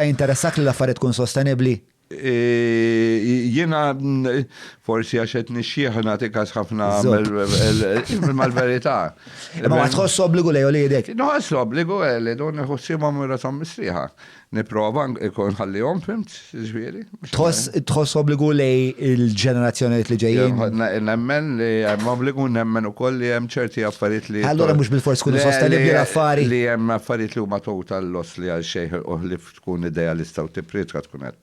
Qed jinteressakk li l-affarijiet tkun sostenibbli? Jiena forsi għax qed nixjieħ u nagħti każ ħafna imma l-verità. Imma ma tħoss obbligu lejn uliedek? Nħoss obbligu li dun iħossibhom u rashom mistrieħa. Nipprova ikun ħallihom fimt, ġifieri. Tħoss obbligu lej il-ġenerazzjonijiet li ġejjin? Nemmen li hemm obbligu, nemmen ukoll li hemm ċerti affarijiet li. Allura mhux bil-fors tkun sostenibbli l-affari. Li hemm affarijiet li huma total loss li għal xejn u li tkun idealista u tipprietka tkun qed.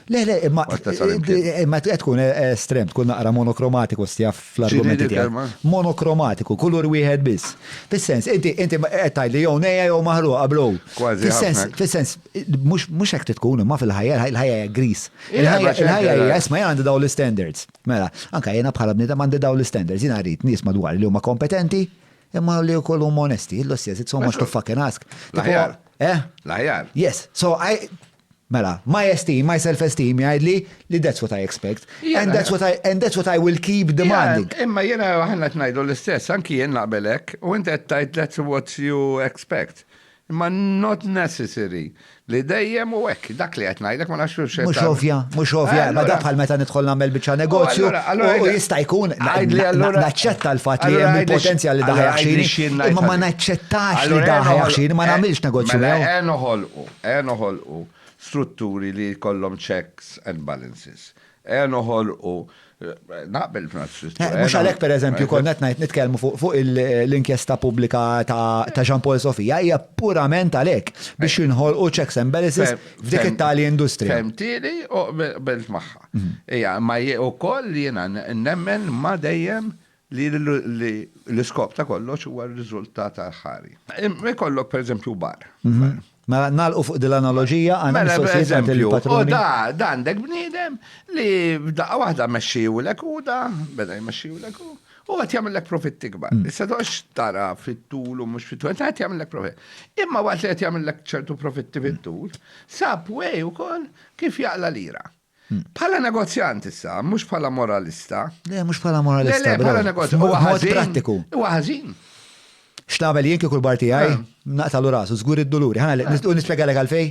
Le, le, imma qed tkun estrem, tkun naqra monokromatiku stja fl-argumenti tiegħek. Monokromatiku, kulur wieħed biss. Fis-sens, inti qed tgħid li jew nejja jew maħruqa bro. Kważi. Fis-sens, Mhux mhux hekk trid tkun, imma fil-ħajja, il-ħajja hija gris. Il-ħajja il-ħajja hija isma' jien għandi dawn l-istandards. Mela, anke jiena bħala bniedem għandi dawn l-istandards, jiena rrid nies madwar li huma kompetenti, imma li wkoll huma onesti. Illus jeżid so much to fucking ask. L-aħjar. Eh? L-aħjar. Yes. So I Mela, my esteem, my self-esteem jgħidli li that's what I expect. And that's what I, and that's what I will keep demanding. Imma jena ħanna t-najdu l-istess, anki jien naqbelek, u inti għettajt that's what you expect. Imma not necessary li dejjem u hekk, dak li qed ngħidlek ma nafx x'qed Mhux ovvja, mhux ovvja, ma da bħal meta nidħol nagħmel biċċa negozju u jista' jkun naċċetta l-fatt li hemm il-potenzjal li daħ jaħxini, imma ma naċċettax li daħ jaħxini, ma nagħmilx negozju miegħu. Mela noħolqu, noħolqu strutturi li jkollhom checks and balances. Eja noħolqu, naqbel f'nafs. Eh, mhux għalhekk pereżempju kont qed ngħid nitkellmu fuq l-inkjesta pubblika ta' Jean Paul Sofia hija purament għalhekk biex jinħolqu checks and balances f'dik it-tali industrija. Fehmtieli u qbilt magħha. Mhm. Hija ma ukoll jiena nemmen ma dejjem li l-iskop ta' kollox huwa r-riżultat aħħari. Imma jkollok pereżempju bar. Mela nagħlqu fuq din l-analoġija għandna mela, mistoqsijiet għand il-patrun. Da għandek bniedem li f'daqqa waħda mexxiwlek u da beda jmexxiwlek u u għat jamillek profitti kbar. Mm. Issa dox tara fit-tul u mux fit-tul, għat jamillek profitt. Imma għat li għat jamillek ċertu profitti fit-tul, sab way u kol kif jaqla lira. Bħala negozjant issa, mhux bħala moralista. Le, mhux bħala moralista. Le, le, bħala negozjant. Huwa ħażin. prattiku. Huwa ħażin. X'nagħmel jien kieku l-parti għaj, eh. naqtalu rasu, żgur id-duluri. Ħana eh. nispjegalek għalfej?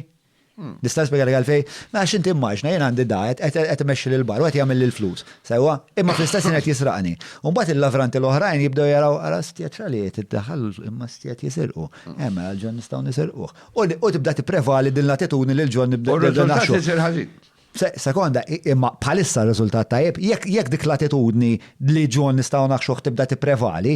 Hmm. Nista' nispjegalek għalfej? Ma għax inti immaġna jien għandi da, qed imexxi lil bar, qed jagħmel lil flus. Sewwa, imma fl-istess qed jisraqni. U mbagħad il-lavranti l-oħrajn jibdew jaraw ara stjet xaliet iddaħħal imma stjet jisirqu. Hemm hmm. eh, għalġan nistgħu nisirquh. U tibda tipprevali din l-attitudni li l-ġol nibda. U r-riżultat isir ħażin. Sekonda, imma bħalissa r-riżultat tajjeb, jekk dik l-attitudni li ġol nistgħu naħxuh tibda tipprevali,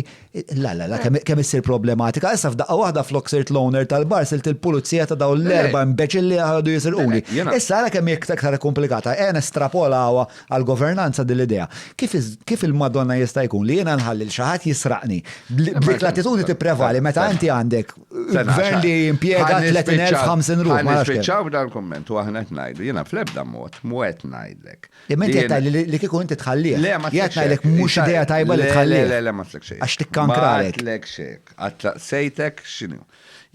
la la la kemm issir problematika. Issa f'daqqa waħda flok sirt l-owner tal-bar sirt il-pulizija ta' dawn l-erba' imbeċilli li ħadu jisirquli. Issa ara kemm hi aktar komplikata. Ejja nestrapolawha għall-governanza din l-idea. Kif il-Madonna jista' jkun li jiena nħalli lil xi ħadd jisraqni? B'dik l-attitudni tipprevali meta inti għandek Gvern li jimpjega 30,000 ruħ. Ma nispiċċaw b'dan il-komment u aħna qed ngħidu, jiena fl-ebda mod mwet ngħidlek. Imma inti qed li kieku inti tħallih. Le ma qed ngħidlek mhux idea tajba li tħallih. Le le ma tlek xejn. Għax tikkankralek. Ma tlek xejn. Għatlaqsejtek x'inhu.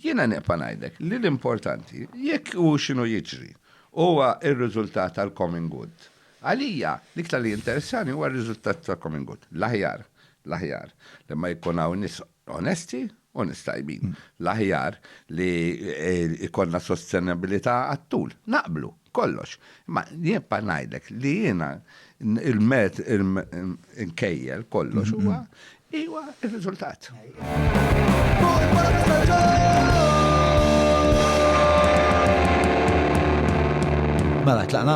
Jiena neqpa' ngħidlek li l-importanti jekk hu x'inhu jiġri huwa r-riżultat tal-common good. Għalija, l-iktar li interessani huwa r-riżultat tal-common good. L-aħjar, l-aħjar, li ma jkun hawn nisq onesti u nies tajbin. L-aħjar li jkollna sostenibbilità għat-tul. Naqblu, kollox. Imma nibqa' ngħidlek li jiena il-met inkejjel kollox huwa iwa r-riżultat. Mela tlaqna?